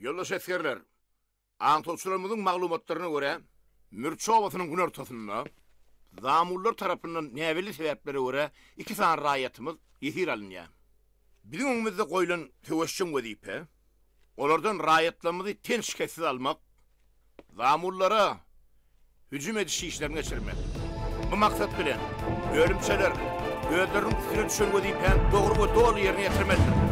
Ýoldaş esgerler, aňtawçylarymyzyň maglumatlaryna görä, Mürçe obasynyň günortasynda zamullar tarapyndan näbelli sebäplere görä iki sany raýatymyz ýesir alynýar. Biziň öňümizde goýlan söweşjeň wezipe, olardan raýatlarymyzy ten şikessiz almak, zamullara hüjüm ediş işlerini geçirmek. Bu maksat bilen, bölümçeler özleriniň üstüne düşen wezipäni dogry we doly ýerine ýetirmelidir.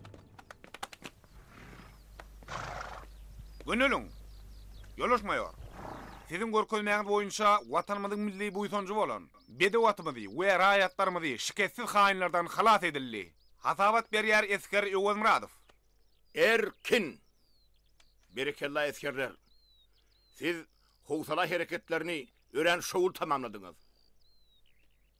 Göneliň! Ýolaşmaýar. Siziň görkezmäňiz boýunça Watanymyzyň milli buýsanjy bolan bedew atymyzy we raýatlarymyzy şikessiz haýynlardan halas edildi. Hasabat berýär esger Öwezmyradow. Erkin! Berekella esgerler! Siz howsala hereketlerini örän şowly tamamladyňyz.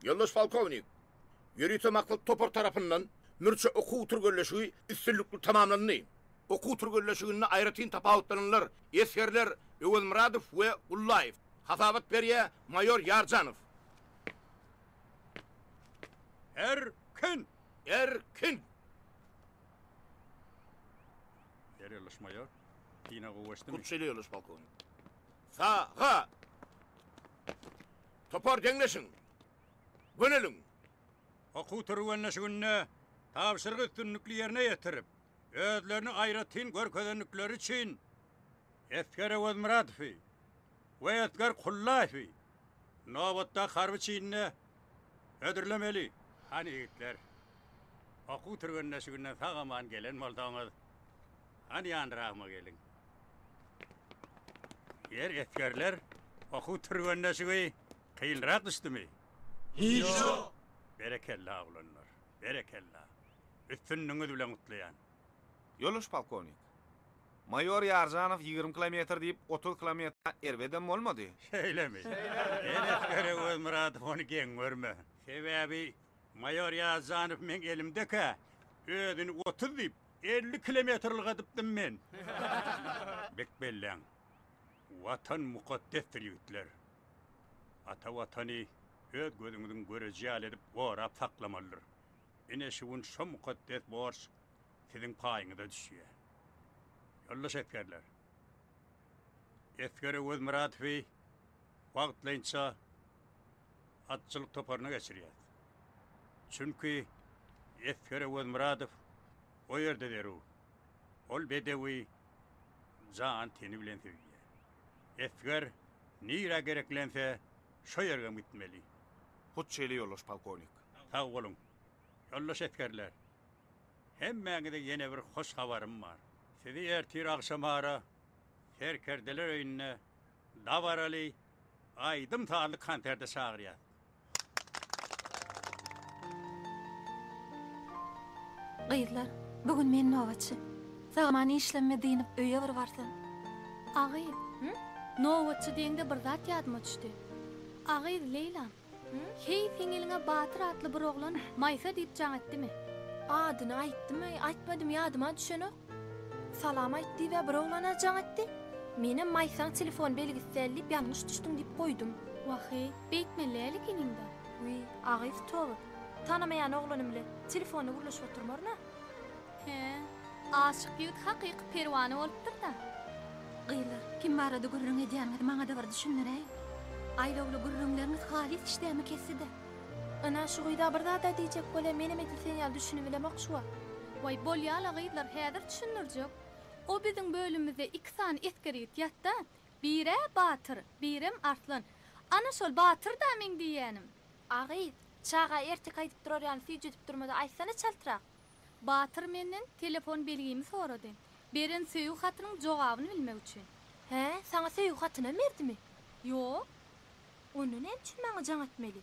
Ýoldaş polkownik! Ýörite maksat topar tarapyndan Mürçe okuw türgenleşigi üstünlikli tamamlandy. Okuw türgenleşiginde aýratyn tapawutlananlar esgerler Öwezmyradow we Gullaýew, hasabat berýär maýor Ýarjanow. Erkin! Erkin! Ýer ýoldaş maýor. Pina gowy geçdimi? Hut şeýle ýoldaş polkownik. Sa-a-a! Topar deňleşiň! Göneliň! Okuw türgenleşiginde tabşyrygy üstünlikli ýerine ýetirip, özlerini aýratyn görkezendikleri üçin Esger Öwezmyradowy we Esger Kullaýewi nobatdaky harby çinine hödürlemeli. Hany ýigitler, okuw türgenleşiginden sag-aman gelen bolsaňyz, Hany ýanyragma geliň. Ýer esgerler okuw türgenleşigi kynrak düşdümi? Hiç ýok. Berekella oglanlar. Berekella. Üstünligiňiz bilen gutlaýan. Ýoldaş polkownik. Maýor Ýarjanow ýigrimi kilometr diýip otuz kilometre erbedem bolmady. Şeýlemi? Şeýle. Sen esgere Özmyradow ony geň görme. Sebäbi maýor Ýarjanow meň elimdekä özüni otuz diýip Elli kilometr ylgadypdym men. Bek belläň. Watan mukaddesdir ýigitler. Ata Watany öz gözüňiziň göreji ýaly edip gorap saklamalydyr. Ine şu gün şo mukaddes borç siziň paýyňyza düşýä. Ýoldaş esgerler! Esger Öwezmyradowy wagtlaýynça. atçylyk toparyna geçirýär. Çünki Esger Öwezmyradow o ýerde zerur. Ol bedewi jan-teni bilen söýýär. Esger nirä gereklense, şo ýergem gitmeli. Hut şeýle ýoldaş polkownik. Sag boluň, ýoldaş esgerler! Hemmäňize ýene bir hoş habarym bar. Sizi ertir agşamara Serkerdeler öýünde dabaraly aýdym-sazly konserte çagyrýar. Gyzlar, bu gün men nobatçy. Saman işlemime dynyp öýe bir barsam. A gyz, nobatçy diýeňde bir zat ýadyma düşdi. A gyz, Leýlam. Heý, siňeliňe Batyr atly bir oglan Maýsa diýip jaň etdimi? Adyny aýtdymy, aýtmadymy ýadyma düşenok. Salam aýt diýibä bir oglana jaň etdi. Menem Maýsaň telefon belgisi däl diýip ýalňyş düşdüň diýip goýdum. Wah-eý, beýtmeli däl ekeniň-dä. Wiý, agyz towr. Tanamaýan oglanym bilen telefona gürleşip oturmaryn-a. He, aşyk ýigit hakyky perwana bolupdyr-da. Gyzlar, kim barada gürrüň edýäniňizi maňa-da bir düşündiräý. Aýlawly gürrüňleriňiz halys işdämi kesdi-de. Ana, şu gyz-a bir zad-a diýjek bolýa, menem edil sen ýaly düşünibilemok şu wagt. Waý, bolýa-la gyzlar, häzir düşündirjek. O biziň bölümimizde iki sany esger ýigit ýat-da, bir-ä Batyr, birem Arslan. Ana, şol Batyr-da meň diýýänim. A gyz, çaga ertek aýdyp durar ýaly süýjüdip durma-da, aýtsana çaltrak. Batyr menden telefon belgimi sorady. Beren söýgi hatynyň jogabyny bilmek üçin. Hä, saňa söýgi hatynam berdimi? Ýok. Onda näme üçin maňa jaň etmeli?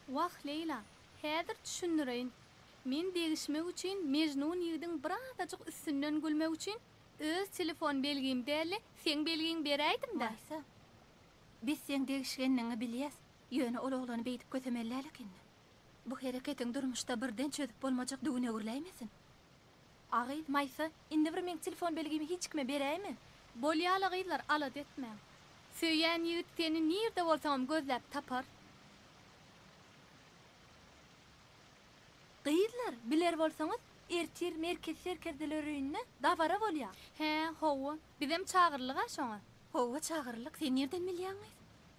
Wah, Leýla, häzir düşündireýin. Men degişmek üçin Mejnun ýigidiň birazajyk üstünden gülmek üçin öz telefon belgimi däl-de, seň belgiňi beräýdim-dä. Maýsa, biz seň degişgenligiňi bilýäs, ýöne ol oglany beýdip kösemeli däl ekeniň. Bu hereketiň durmuşda birden çözüp bolmajak düwün öwrüläýmesin? A gyz, Maýsa, indi bir meň telefon belgimi hiç kime beräýme. Bolýa-la gyzlar, alada etmäň. Söýýän ýigit seni nirde bolsaňam gözläp tapar. Gyzlar, biler bolsaňyz, ertir Merkez serkerdeler öýünde dabara bolýa. Hä, hawa. Bizem çagyrlyg-a şoňa. Hawa, çagyrlyk. Sen nirden bilýäň, gyz?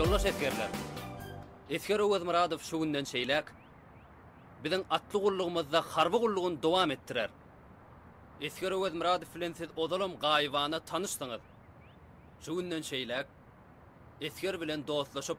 Ýoldaş esgerler! Esger Öwezmyradow şu günden şeýläk biziň atly gullugymyzda harby gullugyny dowam etdirer. Esger Öwezmyradow bilen siz ozalam gaýybana tanyşdyňyz. Şu günden şeýläk esger bilen dostlaşyp,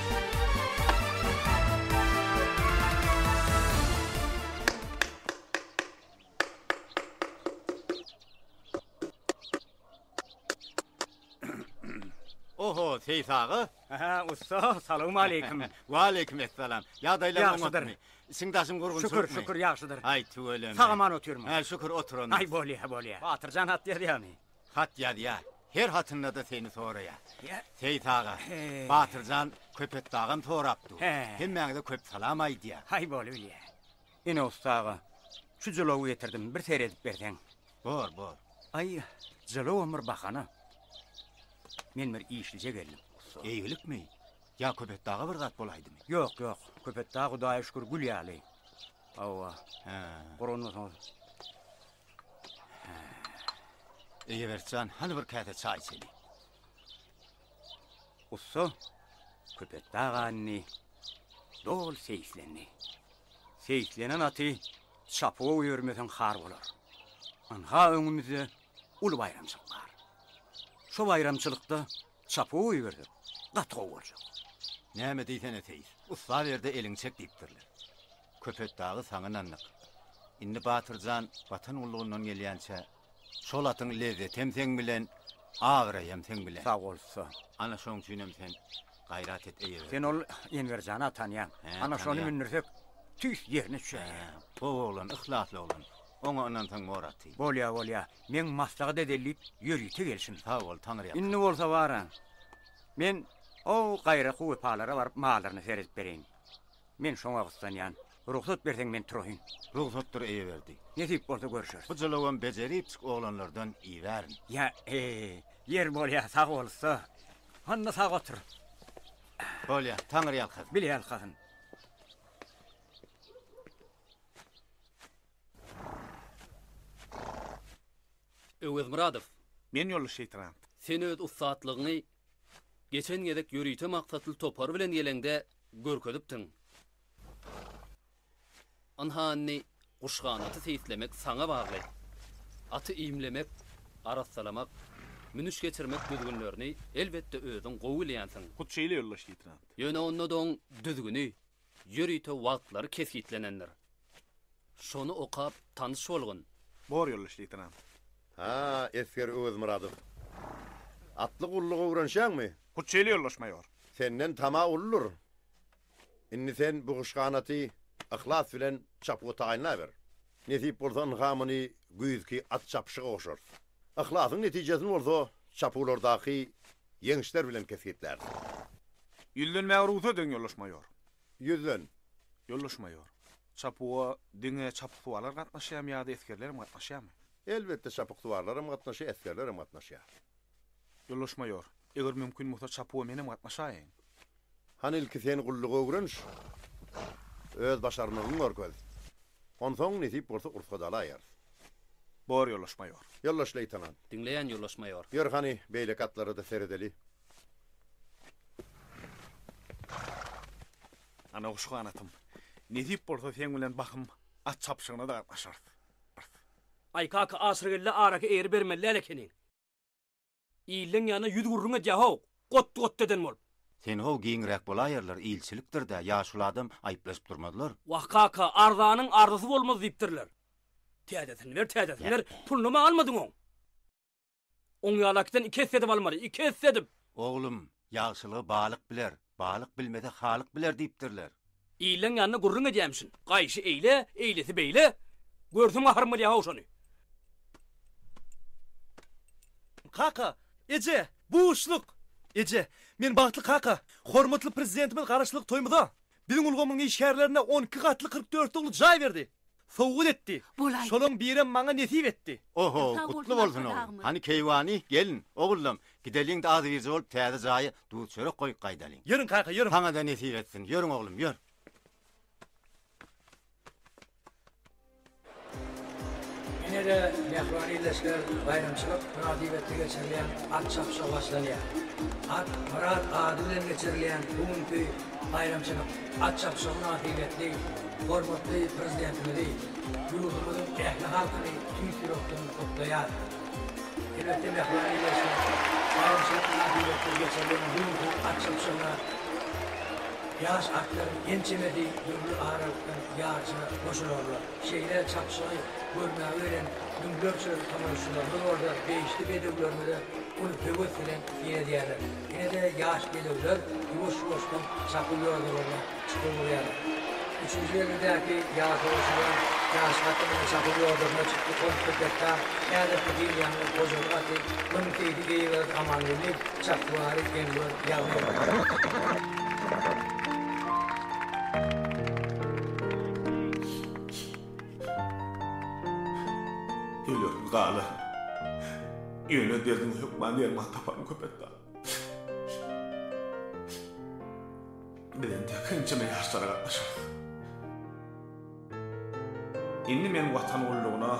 Seýis aga? Aha, ussa, salam aleýkum. Wa aleýkum essalam. Ýagdaýlar oňatmy? Işiň daşyň gurgun şükür. Şükür, şükür, ýagşydyr. Aý, tüweleme. Sag-aman otyrmy? Ha, şükür, oturan. Aý, bolýa, bolýa. Batyrjan hat ýazýamy? Hat ýazýa, her hatynda-da seni soraýa. Seýit aga, Batyrjan Köpetdagam sorap dur. Hemmäňize köp salam aýdýa. Haý bolubilýä. Ine ussa aga, şu jylawy getirdim, bir seredip berseň. Bor, bor. Aý, jylawam bir bahana. Men bir işlije geldim, ussa. Eýgilikmi? Ýa Köpetdaga bir zat bolaýdymy? Ýok, ýok. Köpetdag Hudaýa şükür gül ýaly. Hawa. Hä. Guranmasaňyz. Eýebertjan, hany bir käse çaý içeli. Ussa Köpetdag anyny doly seýislendi. Seýislenen aty çapuwa goýbermeseň har bolar. Ynha öňümizde uly baýramçylyk bar. Şo baýramçylykda çapuwa goýbersek, gaty gowy boljak. Näme diýsene seýis, ussa berde eliňi çek diýipdirler. Köpetdagy saňynandyk. Indi Batyr jan Watan gullugyndan gelýänçä, şol atyň lezzetem seň bilen, abraýam seň bilen. Sag bolsa. Ana şoň üçinem sen gaýrat et eýe. Sen ol Enwer jana tanýaň. Ana şony mündürsek, tüýs ýerine çüýär. Gowy oglan, yhlasly oglan. Oňa ynansaň bor aty. Bolýa, bolýa. Meň maslahat edeli diýip ýörite gelşim. Sag bol, Taňyrýalkasy. Indi bolsa baraň. Men o gaýraky wepalara baryp mallaryna seredip bereýin. Men şoňa gyssanýan. Rugsat berseň men turaýyn. Rugsatdyr Eýeberdi. Nesip bolsa görüşeris. Bu jylawam bejeripjik oglanlardan iýibärin. Ýa, ýer bolýa, sag bol ussa. Onda sag otur. Bolýa, Taňry ýalkasyn. Bile ýalkasyn. Öwezmyradow. Men ýoldaş leýtenant. Sen öz ussatlygyňy Geçen gezek ýörite maksatly topar bilen geleňde görkezipdiň. Ynha indi guşganaty seýislemek saňa bagly. Aty iýmlemek, arassalamak, münüş geçirmek düzgünlerini elbetde özüň gowy bilýänsiň. Hut şeýle ýoldaş-leýtenant. Ýöne onda-da oň düzgüni, ýörite wagtlary kesgitlenendir. Şony okap tanyş bolgun. Bor ýoldaş-leýtenant. Haa, esger Öwezmyradow. Atly gullugy öwrenşýäňmi? Hut şeýle ýoldaş maýor. Senden tama uludyr. Indi sen bu guşganaty yhlas bilen çapyga taýynlaber. Nesip bolsa ynha muny güýzki at çapyşyga goşarys. Yhlasyň netijesini bolsa çapywlardaky ýeňişler bilen kesgitläris. Ýüzlenmäge rugsat ediň, ýoldaş maýor. Ýüzlen. Ýoldaş maýor. Çapuwa diňe çapyksuwarlar gatnaşýarmy ýa-da esgerler hem gatnaşýarmy? Elbetde çapyksuwarlar hem gatnaşýar, esgerler hem gatnaşýar. Ýoldaş maýor, eger mümkin bolsa çapuwa men hem gatnaşaýyn. Hany ilki sen gullugy öwreniş, öz başarnygyňy görkez. Onsoň nesip bolsa ursa dalaýarys. Bor ýoldaş maýor. Ýoldaş leýtenant. Diňleýän ýoldaş maýor. Ýör hany beýleki atlara-da seredeli. Ana guş ganatym, nesip bolsa seň bilen bahym at çapyşygyna-da gatnaşarys. Aý kaka Aşyrgeldi araky eýeri bermeli däl ekeniň. Illeň ýanyna ýüz gürrüň edýä-how, got-got eden bolup. Sen-how giňräk bolaýerler, ilçilikdir-dä, ýaşuly adam aýyplaşyp durmazlar. Wah kaka, arzanyň arzysy bolmaz diýipdirler. Täzesini ber, täzesini ber, puluny maň almadyň oň. Oň ýalakidan iki esse edip almaly, iki esse edip! Oglum, ýagşylygy balyk biler, balyk bilmese halyk biler diýipdirler. Illeň ýanynda gürrüň edýämişin. Gaýşy eýle, eýlesi beýle. Görsem gaharym gelýär-haw şony. Kaka! Eje! Buşluk! Eje! Men bagtly kaka! Hormatly Prezidentimiz Garaşsyzlyk toýumyza Biziň ulgamyň işgärlerine on iki gatly kyrk dört dogly jaý berdi. Sowgat etdi. Bolaý. Şolaň birem maňa nesip etdi. Oho, gutly bolsun oglan. Hany keýwany, gelin, ogullam, gideliň-de azybirje bolup täze jaýa duz-çörek goýup gaýdalyň. Ýörüň kaka, ýörüň. Saňa-da nesip etsin. Ýörüň oglum, ýör. Ine-de, mähriban ildeşler, baýramçylyk mynasybetli geçirilýän at çapyşygy başlanýar. At, myrat ady bilen geçirilýän bu günki baýramçylyk at çapyşygy mynasybetli hormatly Prezidentimizi, ýurdumyzyň ähli halkyny tüýs ýürekden gutlaýarys. Elbetde, mähriban ildeşler, baýramçylyk mynasybetli geçirilýän bu günki at çapyşygyna ýaş atlaryň ençemesi dürli aralykdan Ýaryşa goşularla şeýle çapyşygy görmäge gelen müňlerçe tomaşaçylarymyz bolsa degişli bedewlerimize uly höwes bilen seredýärler. Ine-de ýaş bedewler ýuwaş-ýuwaşdan çapyw ýodalaryna çykyp urýarlar. Üçünji belgidäki ýaryşagoşulan ýaş at ine çapyw ýodasyna çykdy, ol Köpetdag häzirki dünýäniň hojalyk aty Müň keýpi geýiberdi Amangeldi, Çakybary Enwer Ýagmyr. Diýlerin galy. Ýöne derdiň hökman derman taparyn Köpetdag. Biz entek ençeme ýaşlara gatnaşarys. Indi men Watan gullugyna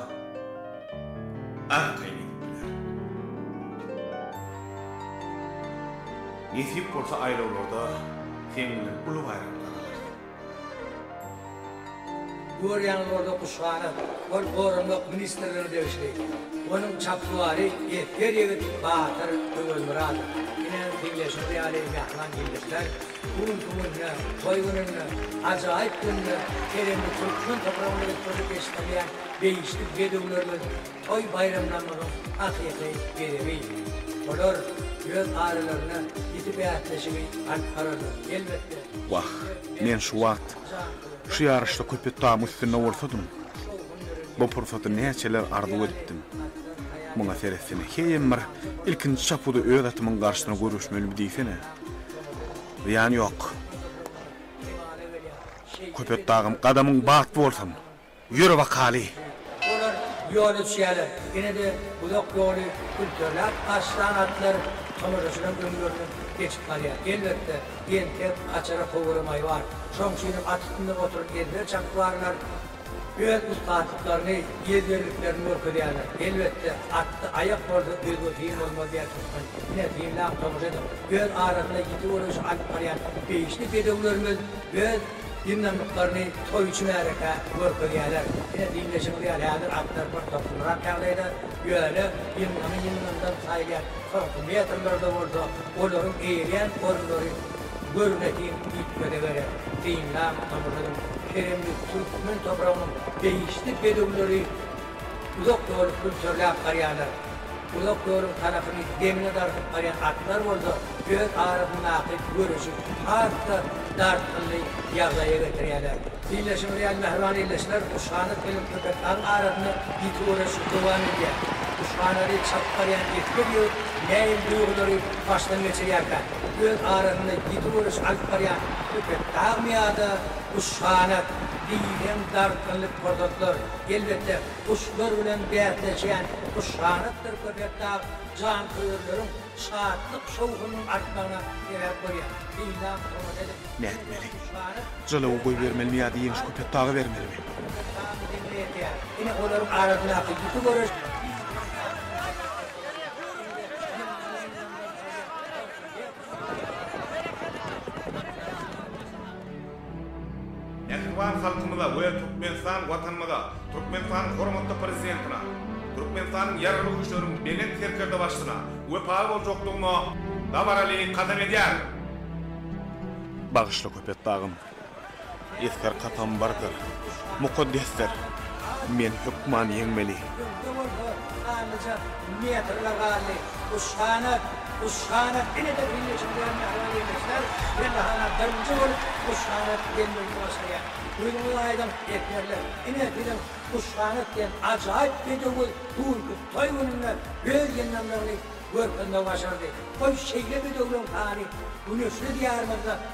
arkaýyn gidip bilerin. Nesip bolsa aýlawlarda seň bilen uly baýramda galaryn. Görýäňiz orda Guşhana, ol goranmak ministrligine degişli. Onuň çapsuwary esger ýigit batyr Öwezmyradow. Ine, diňleýşiňiz ýaly mähman ildeşler, Bugünki gün ýa toý gününde ajaýyp günde terenli türkmen topragynda üýtgeşik eşidilýän degişli bedewlerimiz toý baýramlarymyzyň hakyky bezegi. Olar öz aralaryna ýiti bäsleşigi alyp bararlar. Elbetde. Wah, men şu wagt şu ýaryşda Köpetdagyň üstünde bolsadym, bu pursaty näçeler arzuw edipdim. Muňa seretseň, heýem bir ilkinji çapuda öz atymyň garşysyna göreşmelimi diýsene. Zyýany ýok. Köpetdagym, gadamyň batly bolsun! Ýöre bakaly! Olar ýola düşýärler. Ine-de uzak ýoly külterläp aşlan atlar tomaşaçylaryň öňlerinden geçip barýar. Elbetde, entek açara howuramaý bar. Şoň üçinem at üstünde oturan ezber çapykwarlar, Öz ussatlyklaryny, ýezderliklerini görkezýärler. Elbetde, atda aýak bolsa özge hil bolmaz diýýär türkmen. Ine, synlap tomaşa ediň. Öz arasynda ýiti göreşi alyp barýan beýişli bedewlerimiz öz ýyndamlyklaryny toýçy märekä görkezýärler. Ine, diňleşigiňiz ýaly, häzir atlar bir toslumrak ýagdaýda, ýöne ýyndamy ýyndamdan saýylýan soňky metrlerde bolsa olaryň eýerýän orunlary Görnetin üýtgede gerek, synlan tomurdan keremli türkmen topragynyň degişli bedewleri uzak ýoly külterläp barýarlar. Uzak ýoluň tarapyny demine dartyp barýan atlar bolsa öz arasyndaky göreşi has-da dartgynly ýagdaýa getirýärler. Syllaşyňyz ýaly mähriban ildeşler, Guşhanat bilen Köpetdagyň arasynda ýiti göreş dowam edýär. Guşhanady çakyp barýan esger ýigit nähili duýgulary başdan geçirýärkä? öz arasynda ýiti göreş alyp barýan Ýüpek dagmyýa-da Guşganat, diýseň dartgynly pursatlar, elbetde, guşlar bilen bäsleşýän Guşganatdyr Köpetdag janköýerleriň şatlyk-şowhunynyň artmagyna sebäp bolýar. Synlap tomat edip, Ne etmeli? Guşganat Jylawy goýbermelimi ýa-da ýeňiş Köpetdaga bermelimi? Köpetdagyň deňine ýetýär. Ine, olaryň arasyndaky ýiti göreş diýseň dartgynly pursatlar, elbetde, ýylgyrlaýyn. Mähriban halkymyza we Türkmenistan Watanymyza, Türkmenistanyň hormatly Prezidentine, Türkmenistanyň Ýaragly Güýçleriniň Belent Serkerdebaşysyna wepaly boljakdygyma dabaraly kasam edýärin. Bagyşla Köpetdagym. Esger katambardyr, mukaddesdir. Men hökman ýeňmeli. Öňde bolsa Ganlyja metrler galdy. Guşhanat, Guşhanat ine-de birleşip duran mähriban ildeşler! Pellehana birinji bolup Guşhanat gelmegini başarýar. Duýduňyzmy aýdym, esgerler? Ine, biziň Guşhanat diýen ajaýyp bedewi bu günki toý gününde öz ýyndamlygyny görkezmegi başardy. Goý, şeýle bedewleň sany Güneşli Diýarymyzda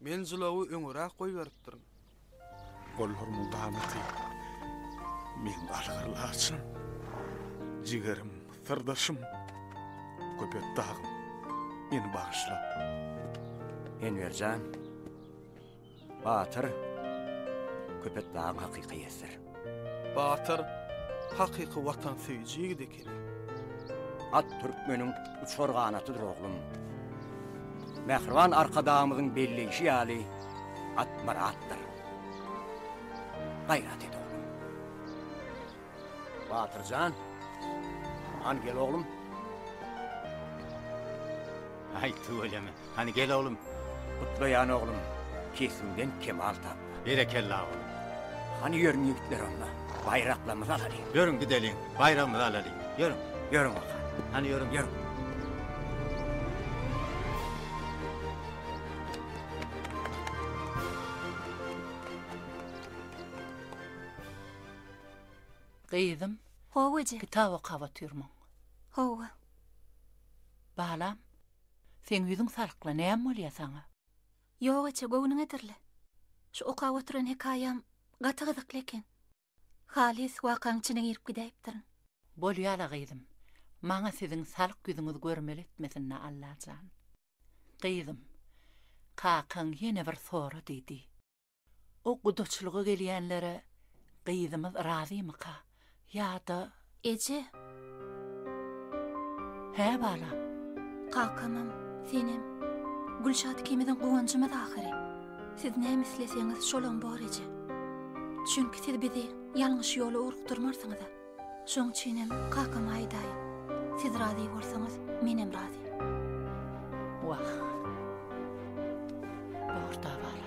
Men jylawy öňüräk goýberipdirin. Gollarymy ganatyp, men galgyr laçyn, jigerim, syrdaşym, Köpet dagym, meni bagyşla. Enwer jan, batyr, Köpet dagyň hakyky ýesdir. Batyr, hakyky watansöýüji ýigidi. At türkmeniň uçar ganatydyr oglum. Mähriban Arkadagymyzyň belleýşi ýaly, at myratdyr. Gaýrat et, oglum! Batyr jan, han gel oglum! Aý, tüweleme! Hany gel oglum. Gutlaýan oglum, kesimden kemal tap. Berekella oglum. Hany ýörüň ýigitler onda, baýraklarymyzy alalyň. Ýörüň gideliň, baýragymyzy alalyň. Ýörüň. Ýörüň oka. Hany ýörüň. Ýörüň. Gyzym. Hawa eje. Kitap okap otyrmyň? Hawa. Balam. Seň ýüzüň salykla, näme bolýa saňa? Ýok eje, göwnüňedirle. Şu okap oturan hekaýam gaty gyzykly eken. Halys wakaň içine girip gidäýipdirin. Bolýa-la gyzym. Maňa siziň salyk ýüzüňiz görmeli etmesin-dä Allajan. Gyzym, kakaň ýene bir sorady diý. O gudaçylyga gelýänlere gyzymyz razymyka? Ýa-da. Eje! Hä, balam? Kakamam, senem. Gülşat ikimiziň guwanjymyz ahyry. Siz näme isleseňiz, şolam bor, eje. Çünki siz bizi ýalňyş ýola ugrukdyrmarsyňyz-a. Şoň üçinem kakama aýdaýyn. Siz razy bolsaňyz, menem razy. Wah. Bor dabar.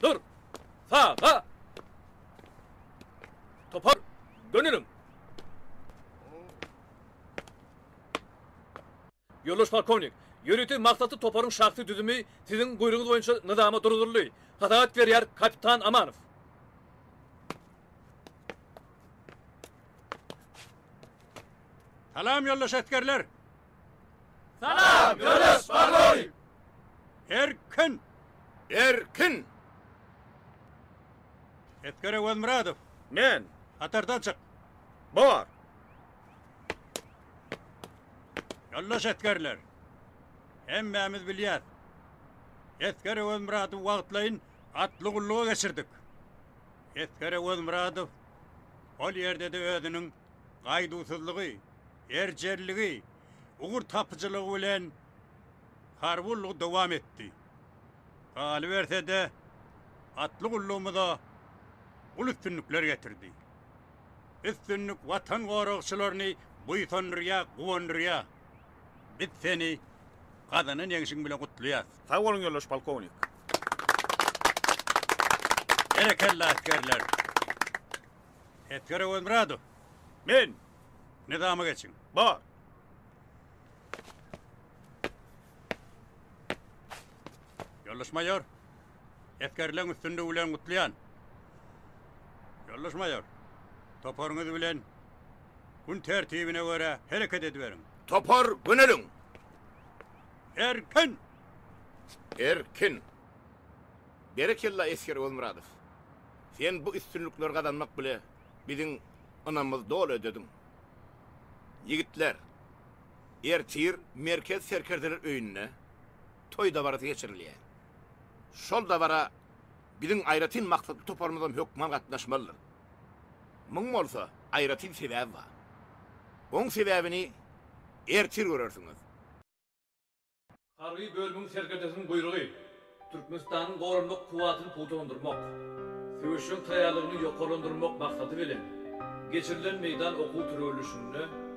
Dur! Saga! Topar, döneliň! Ýoldaş polkownik, ýörite maksatly toparyň şahsy düzümi siziň buýrugyňyz boýunça nyzama durduryldy. Hasabat berýär kapitan Amanow. Salam, ýoldaş esgerler! Salam, ýoldaş polkownik! Erkin! Erkin! Esger Öwezmyradow! Men! Hatardan çyk! Bar! Yoldaş esgerler, hemmämiz bilýäs. Esger Öwezmyradow wagtlaýyn atly gulluga geçirdik. Esger Öwezmyradow ol ýerde-de özüniň gaýduwsyzlygy, erjelligi, ugur tapyjylygy bilen harby ullugy dowam etdi. Galyberse-de, atly gullugymyza uly üstünlikler getirdi. Üstünlik Watan goragçylaryny buýsandyrýar, guwandyrýar. Biz seni gazanan ýeňşiň bilen gutlaýas. Sag boluň ýoldaş polkownik. Berekella asgerler. Esger Öwezmyradow. Men. Nyzama geçiň. Bar. Ýoldaş maýor. Esgerleň üstünligi bilen gutlaýan. Ýoldaş maýor, toparyňyz bilen gün tertibine görä hereket ediberiň. Topar göneliň! Erkin! Erkin! Berekella esger Ogulmyradow. Sen bu üstünlikleri gazanmak bile biziň ynamymyz doly ödediň. Ýigitler, ertir Merkez serkerdeler öýünde. toý dabarasy geçirilýär. Şol dabara biziň aýratyn maksatly toparymyzam hökman gatnaşmalydyr. Muň bolsa aýratyn sebäbi bar. Oň sebäbini ertir görersiňiz. Harby bölümiň serkerdesiniň buýrugy, Türkmenistanyň goranmak kuwwatyny pugtalandyrmak, söweşjeň taýýarlygyny ýokarlandyrmak maksady bilen, geçirilen meýdan okuw-türgenleşiginde,